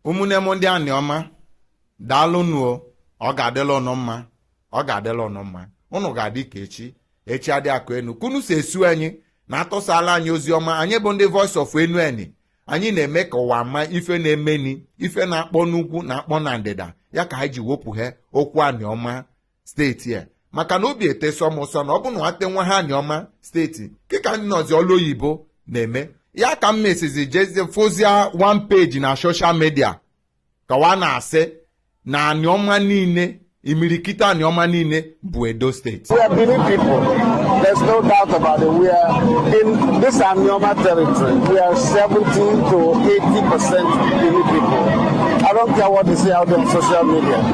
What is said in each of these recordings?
ụmụnne m ndị aniọma daalụnụ ọ ga-adịla ụnụ mma ọ ga-adịla ụnụ mma ụnụ ga-adị ka echi echi adị agwụ enu ka ụnụ si eso anyị na-atụsala anyị ozi ọma anyị bụ ndị voice of enuani anyị na-eme ka ụwa ma ife na-emeni ife na-akpọ n'ugwu na-akpọ na ndịda ya ka anyị ji wepụghe okwu aniọma steeti a maka na obi etesọ m ụsọ na ọ bụ na nwate nwa ha aniọma steeti kịka ndị nọzi ọlụ oyibo na-eme ya ka m mesizi jezie fụzịa one page na social media ka wa na-asị na aniọma niile imirikiti aniọma niile bụ edo steeti there's no doubt about it. We are in this Anioma territory. We are 70 to 80 percent Bini people. I don't care what they say out there on social media.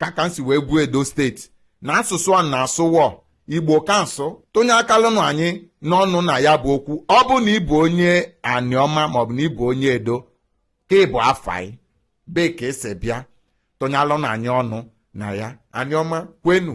ka ka anyị si wee bụ edo steeti na asụsụ a na-asụ wọ igbo ka anyị sụ tụnye akalụnụ anyị n'ọnụ na ya bụ okwu ọ bụ na ị bụ onye aniọma maọbụ na ị bụ onye edo ka ị bụ afai bee ka i si bịa tụnyalụnụ anyị ọnụ na ya aniọma kwenu